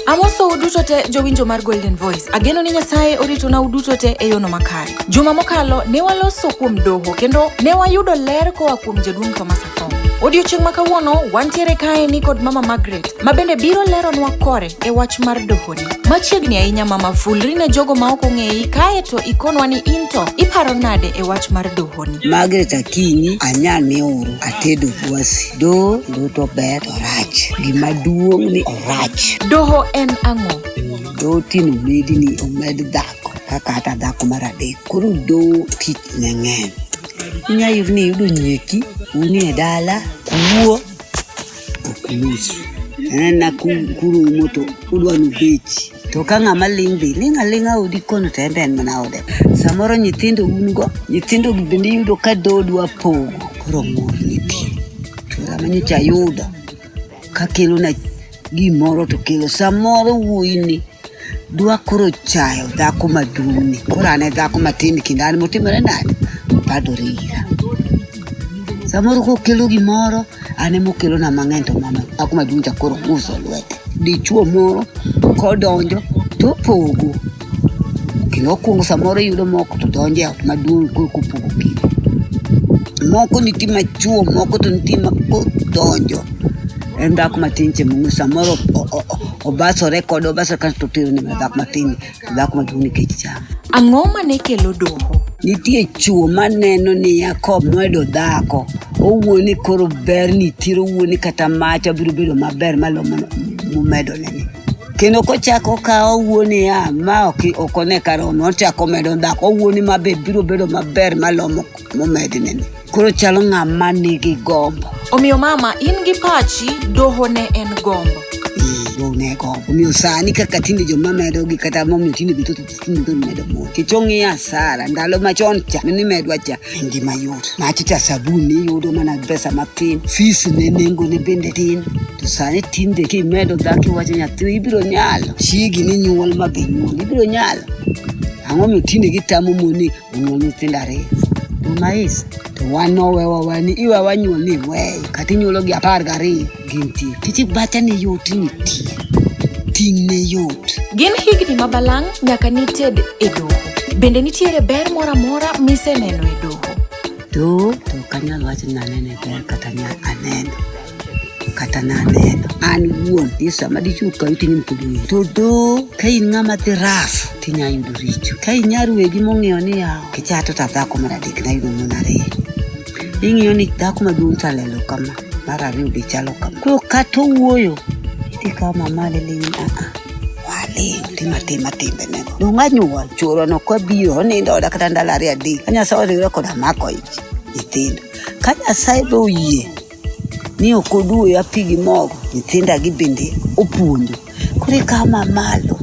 Amosou uduto te jowinjo mar Golden Voice. Ageno ni Nyasaye oritona uduto te e yono makare. Juma mokalo ne waloso kuom doho kendo ne wayudo ler koa kuom jaduong' Thomas Athong. Odiochieng' ma kawuono wantiere kae ni kod Mama Margaret ma bende biro leronwa kore e wach mar dohoni. Machiegni ahinya Mama fulri ne jogo ma ok ong'eyi kae to ikonwa ni into iparo nade e wach mar doho. Margaret Akinyi anya ne uru atedo dwasi do duto ber orach gima duong' ni orach Doho en ang'o? do tino medi ni omed dhako kaka hata dhako mar adek koro do tich ne ng'eny inyayudo ni iyudo nyeki uni e dala kuo okumusu nana kuru moto udwa nubechi to ka ng'ama ling' be ling' aling'a odi kono to en be en mana ode samoro nyithindo un go nyithindo bende yudo ka dodwa pogo koro mor nitie to sama nyocha ayudo ka kelona gimoro to kelo samoro wuoyini dwa koro chayo dhako maduong'ni koro ane dhako matin kinda an motimore nade padore ira samoro kokelo gimoro ane mokelona mang'eny to mama dhako maduong' cha koro uso lwete dichuo moro kodonjo to opogo kendo okwongo samoro yudo moko to donjo e ot maduong' koro kopogo kinde moko nitie machuo moko to nitie makodonjo en dhako matin che mong'e samoro Obaso rekod Obaso kan to tero ne dhako matin dhako maduong' nikech cham. Ang'o ma ne kelo doho? Nitie chwo maneno ni Yakob noyudo dhako owuo ni koro ber nitiere owuo ni kata macha biro bedo maber malo mumedo nene kendo kochako kawo owuo niya ma ok ok one karomo ochako medo dhako owuo ni ma be biro bedo maber malo mumednene koro chalo ng'ama nigi gombo omiyo mama in gi pachi doho ne en gombo ne gombo omiyo sani kaka tinde joma medo gi kata momiyo tinde gito tinde gito medo mo kech ong'iyo asara ndalo machon cha ne nimedwa cha en gima yot machi cha sabun niyudo mana pesa matin fis ne nengo ne bende tin to sani tinde kimedo dhako iwacho nyathi ibiro nyalo chiegi ni nyuol ma be nyuol ibiro nyalo ang'o miyo tinde gitamo mon ni jonyuol nyithindo ariyo umais to wan nowewa wani iwa wanyuol ni weyo kata inyuolo gi apar gariyo gintie tich bacha ni yot nitie ting' ne yot gin higni ma balang' nyaka nited e doho bende nitiere ber moro amora miseneno e doho to to kanyal wacho ni anene ber kata nya aneno kata naneno an wuon ni sama dichwo kawi to inyalo pod ng'eyo to do ka in ng'ama dhi raf to inya yudo richo ka inyar wegi mong'eyo ni yawo kichato ta dhako mar adek nayudo mon ariyo ing'iyo ni dhako maduong' chalelo kama mar ariyo be chalo kama koro kata owuoyo idhi kawo mamale lewin aa waling tima tima timbe nego dong anyuol chuorwa no kwa biro onindo oda kata ndalo ariyo adek ka nyasaye oriwre koda mako ich nyithindo ka nyasaye be oyie ni ok oduoyo api gi mogo nyithinda gi bende opuonjo koro ikawo mamalo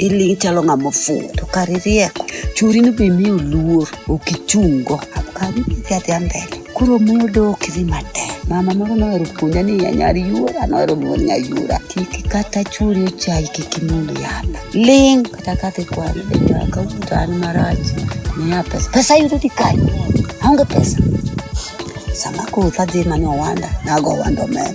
iling' chalo ng'ama ofuwo to kar irieko churi ni be miyo luor ok ichungo abkabi idhi adhiya mbele koro muyo dok idhi matek mama moro nohero puonja ni nyar yuora nohero luor nya yuora kik kata churi ochayi kik imul yath ling' kata kadhi kwano bende akawuoto an marach miya pesa pesa yudo di kanye aonge pesa sama koth adhi mane owanda nago owanda omena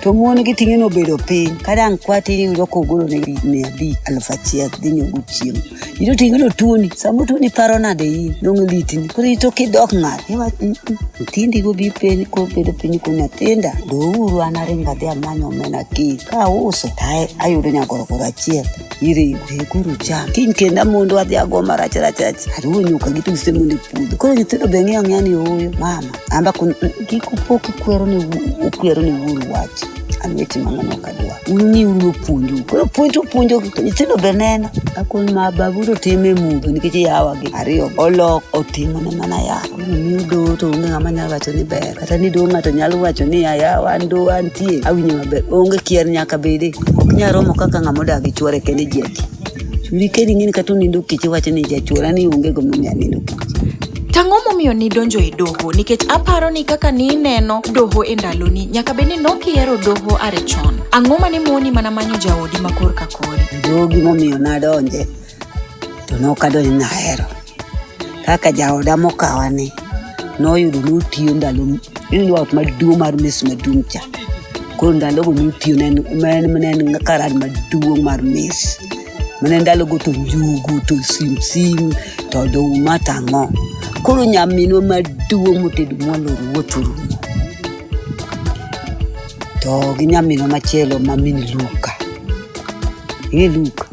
to mon gi ting'e nobedo piny ka dang' kwati ni yudo kogolo ne mia abich aluf achiel dhi nyogo chiemo ito ting'e no tuoni sama tuoni paro nade in dong' litni koro ito kidok ng'at iwach "Mm, mm, nyithindi go bi piny kobedo piny ko nyathinda douru an aringo adhi amanyo omena kiny ka auso to ayudo nyagorogoro achiel iri ibhekuru cha kinkenda mundu adhi agoma rach rach rach ari unyuka gitu gise mundu pudo koro nyithindo be ng'eyo ng'eya ni oyo mama amba kun kik upok ikwero ni wu- ukwero ni wuoru wach an weche mang'ano ok adwa ung'i uru opuonju koro puonj upuonjo to nyithindo be neno akon ma baburo time mudho nikech yawagi ariyo olok otimone mana yaro Ni duto onge ng'ama nyalo wacho ni ber kata ni duong' ng'ato nyalo wacho ni aya wan do antie awinjo maber onge kier nyaka bede ok nyal romo kaka ng'ama odak gi chuore kende ji adi churi kedi ng'eni kata onindo kech iwacho ni jachuora ni onge gimomiyo anindo kech Tang'o momiyo nidonjo e doho nikech aparo ni kaka nineno doho e ndaloni nyaka bed ni nokihero doho are chon. Ang'o ma ne moni mana manyo jaodi ma korka kori? doho gimomiyo nadonje to nokadonjo ni ahero kaka jaoda mokawa ni noyudo notiyo ndalo ineno ot maduong' mar mes maduong' cha koro ndalogo notiyo mnen karad maduong' mar mes mane ndalogo to njugu to simsim to oduma to ang'o koro nyaminwa maduong' motedo mwalo ruoth orumo to gi nyaminwa machielo ma mini Luka. Ing'e Luka?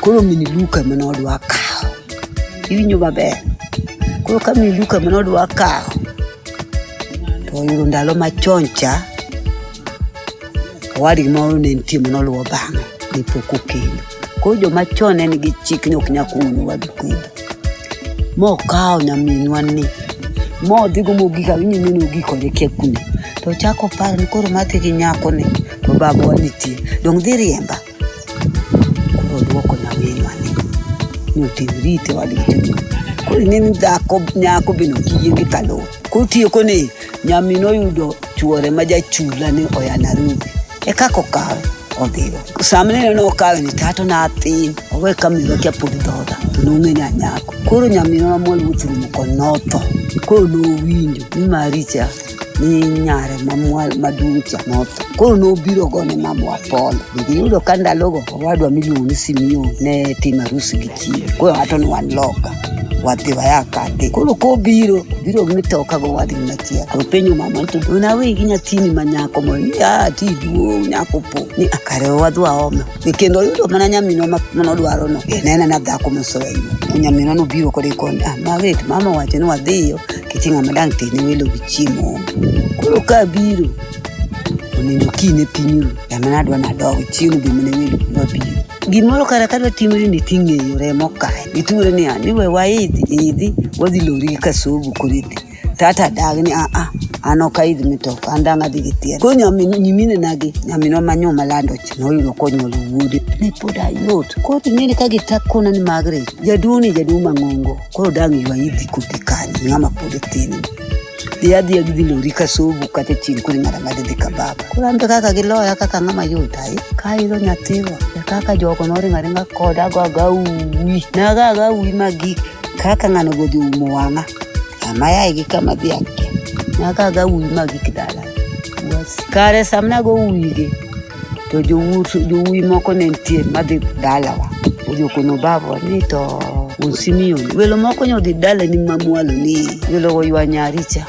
Koro mini Luka ema nodwa kawo. Iwinjo maber? Koro ka mini Luka ema nodwa kawo, to oyudo ndalo machon cha, owadgi moro ne nitie ma noluwo bang'e, ne pok okendo. Koro joma chon ne nigi chik ni ok nyal kumo nyawadu kendo. Mokawo nyaminwa ni modhigo mogik awinjo ni nogik kode kia kuno to ochako paro ni koro madhi gi nyako ni to babawa nitie dong' dhi riemba koro odwoko nyaminwa ni ni otim rite wadgi koro ine ni dhako nyako bende ok yie gi kaloo koro tieko ni Nyami noyudo chuore ma jachula ni oya Nairobi. E kako kawe odhigo. Samne ne okawe ni tato na athin. Owe kamiro kia pod dhoda. To nong'e ni anyako. Koro nyamino namol wuotho rumo kod notho. Koro nowinjo ni maricha ni nyare maduong' cha notho. Koro nobiro gone mamwa pole. Giyudo ka ndalogo owadwa miluongo simio ne tim arus gi chi koro ng'ato ni wan loka wadhi waya kadhi koro kobiro biro gi mitoka go wadhi machiel to penyo mama to unawe gi nyathini ma nyako mo ni ah ti duong' nyako po ni akare wadhi waoma ni kendo oyudo mana nyamino ma nodwaro no e nena na dhako mosowenyo nyamino no biro kode koni ah maget mama wacho ni wadhiyo kiti ng'ama dang' tene welo gi chiemo koro ka biro onego kine pinyuru Yamanadwa nadok chieng' bi mine welo dwa bi. Gimoro kare kadwa timri ni ting'eyo remo kae. Iture ni an iwe waidhi idhi wadhi lori ka sobu kuridi. Tata dag ni a a an ok aidh mitoka an dang' adhi gi thieth. Koro nyamin nyimine nagi nyaminwa manyo malando cha noyudo konyuolo wuode. Ne pod ayot. Koro ting'eni ka gitakona ni Margaret jaduong' ni jaduong' mang'ongo. Koro dang' ywa idhi kodi kanyo ng'ama pod tin. yadi ya gidi lori ka sobu ka te chin kuri ngara ngadi di kababa kurambe kaka gi loya kaka ngama yuta i ka ilo nyatiwa ya kaka joko nori ngari nga koda go ga uwi na ga ga uwi magi kaka ngano godi umo wanga ama ya igi kama di akke na ga ga uwi magi kidala kare samna go uwi gi to jowuoyi moko ne nitie madhi dalawa ojokono babo ni to wuon Simeon welo moko nyo dhi dalani mamwalo ni welogo ywa nyaricha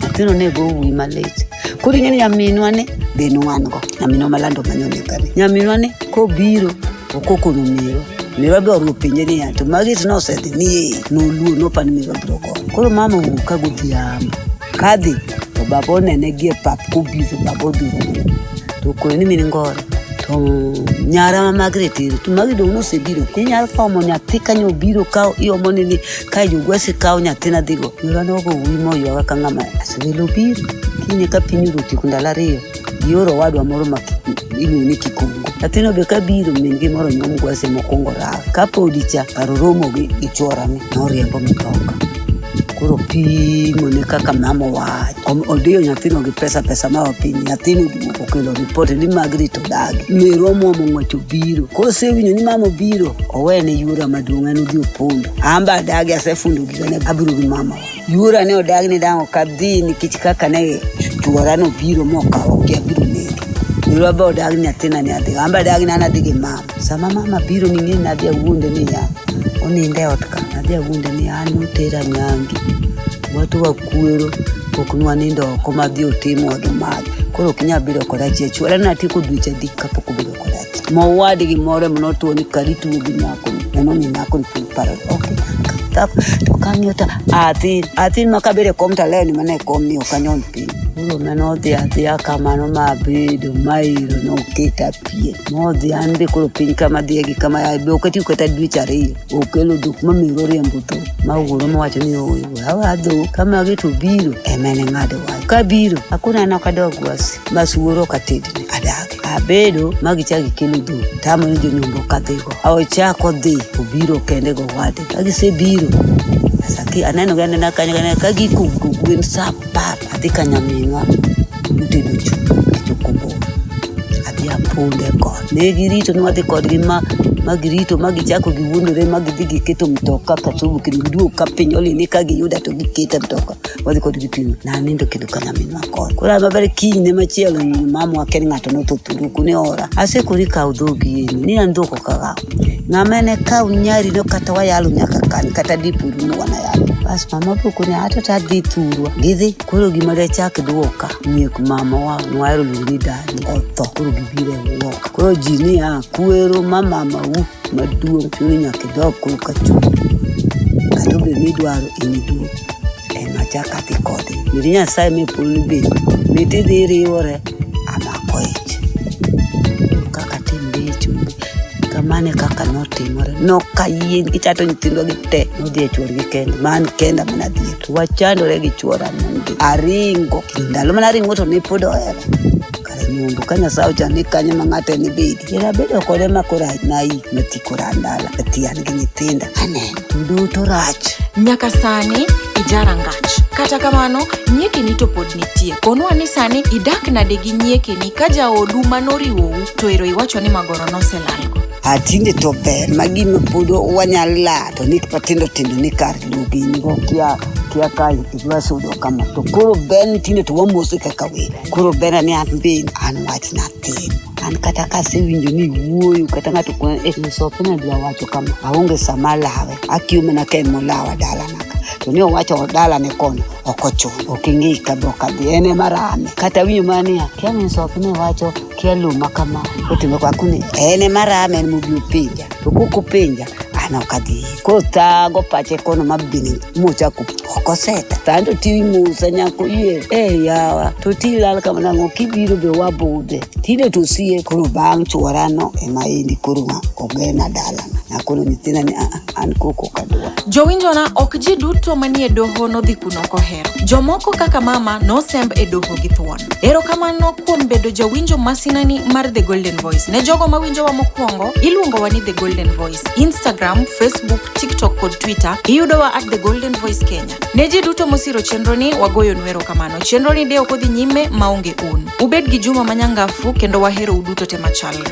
nyathino ne go wuyi malit koro ing'e ni nyaminwa ni be nwango nyaminwa malando manyonekani nyaminwa ni kobiro okokono miro miro be oruo penje niya to magi to nosedhi ni noluo nopani miro biro go koro mama owuok ka godhiambo Kadhi to baba onene gie pap kobiro baba odhuro to kone ni min ngoro to nyara ma Margaret ero to magi dong' nosebiro inyalo kawo mo nyathi ka nyo obiro kawo iomo ni ni ka jogwesi kawo nyathina dhigo yorano ogo wi moywaga ka ng'ama asewelo obiro kinye ka piny oruti ndalo ariyo ioro owadwa moro ma iluongo ni kikongo nyathino be kabiro min gi moro nyuom gwase mokwongo rawe kapodi cha kar oromo gi gi chworane noriembo mitoka koro pimo ne kaka mama wach Om- odiyo nyathino gi pesa pesa ma piny nyathino duogo okelo ripot ni magrit odagi merwa mwomo ng'wech obiro kosewinjo ni mama obiro owene yura maduong' en odhi opondo amba adagi asefundo gigane abiro gi mama wach Yura ne odag ni dang' ok adhi nikech kaka ne chuora no biro mokawo gi abiro negi. Yura be odag ni nyathina ne adhi. An be adag ni an adhi gi mama. Sama mama biro ning'e ni nadhi awuonde ni ya. Oninde ot ka. Nadhi awuonde ni an otera nyangi. Watu wakwero ok nwanindo oko madhi otim wadhi madhi. Koro ok inyal biro koda chiachuora natieko dweche adek kapok obedo mowad gimoro mono tuo ni kari tuo gi nyako neno ni nyako ni piny paro ok kap to kang'iyo ta athin athin ma kabere kom to aleo ni mana e kom ni ok anyon piny koro mane odhi adhiya kamano ma abedo ma iro noketa pien modhi an be koro piny kama dhiye gi kama yaye be oketi kata dweche ariyo okelo dhok ma miro riembo dhok ma wuoro mowacho ni oyo awa dhok ka magi to biro ema ne ng'ado wach ka biro akona nok adog wasi mas wuoro ok atedne adag abedo ma gichako gikelo dho tamo ni jonyombo ka dhigo ochako dhi obiro kende go wade ka gisebiro asaki aneno gi anena kanyo kanyo ka gikugo gwen sa apar adhi ka nyaminwa motedo chu achokombo adhi aponde kod ne girito ni wadhi kodgi ma ma girito ma gichako giwuondore ma gidhi giketo mtoka kasubu kendo giduog ka piny olini ka giyuda to gikete mtoka wadhi kod gi pimo na anindo kendo ka nyaminwa kor koro an maber kinyne machielo mamu aken ng'ato notho thuruku ne ora asekori kaw dhogi yeni ni an dhok ok akaw ng'ama ne kaw nyari no kata wayalo nyaka kan kata dipuru ni wanayalo bas mama poko ni ato ta dhi thurwa gidhi koro gima dachak dwoka nyiek mama wa nwahero luongo ni dani otho koro gibiro e wuok koro ji ni a kwero ma mama u maduong' chuni nyaka idog koro ka chuo kata obedo ni idwaro in iduong' Emacha kati kodi. Miri nyasaye me pulu bi. Miti dhi riwore. Amako ich. Kaka tim bi chumbi. Kamane kaka notimore. Nokayien kichato nyithindo gi te. Nodhi e chuor gi kenda. Man kenda mana dhi. Wachandore gi chuora. Aringo. Ndalo mana ringo to ne pod ohera. nyundu kanya sao chani kanya mang'ate ni bidi ira bedo kode makora nai mati kora ndala ati an gi nyithinda aneno duto rach nyaka sani ijara ngach kata kamano nyiekeni to pod nitie konwa ni sani idak nade gi nyiekeni ka jaodu ma noriwou to ero iwacho ni magoro noselalgo atinde to ber ma gima pod wanyal la to ni matindo tindo ni kar lugingo kia kia ka idwa sudo kama to koro ber ni tinde to wamosi kaka welo koro ber ni an be an wach natin an kata kasewinjo ni wuoyo kata ng'ato musope eh, nadwa wacho kama aonge sama lawe akiyo mana ka emolawa dalana to ni owacho dala ne kono ok ochuno ok ing'e ka dhok adhi en ema rame kata winyo ma niya kia minsoki ne wacho kia luma kama otime kwakuni en ema rame en mobi opinja ukukupenja ana ukadhi kothago pache kono mabini mucha kukoseta tando timusa nyako yie e yawa to tilal kamanango kibiro be wabude tinde tosie koro bang' chworano ema endi koro ma ogena dalana nakono nyithinda ni aa an koko kadwa jowinjona ok ji duto manie doho nodhi kuno kohero jomoko kaka mama nosemb e doho gi thuon Erokamano kuom bedo jawinjo masinani mar The Golden Voice. Ne jogo mawinjowa mokwongo, iluongowa ni The Golden Voice. Instagram, Facebook, TikTok kod Twitter iyudowa at The Golden Voice Kenya. Ne ji duto mosiro chenroni, wagoyonu erokamano. Chenroni de ok odhi nyime maonge un. Ubed gi juma manyangafu kendo wahero uduto te machalre.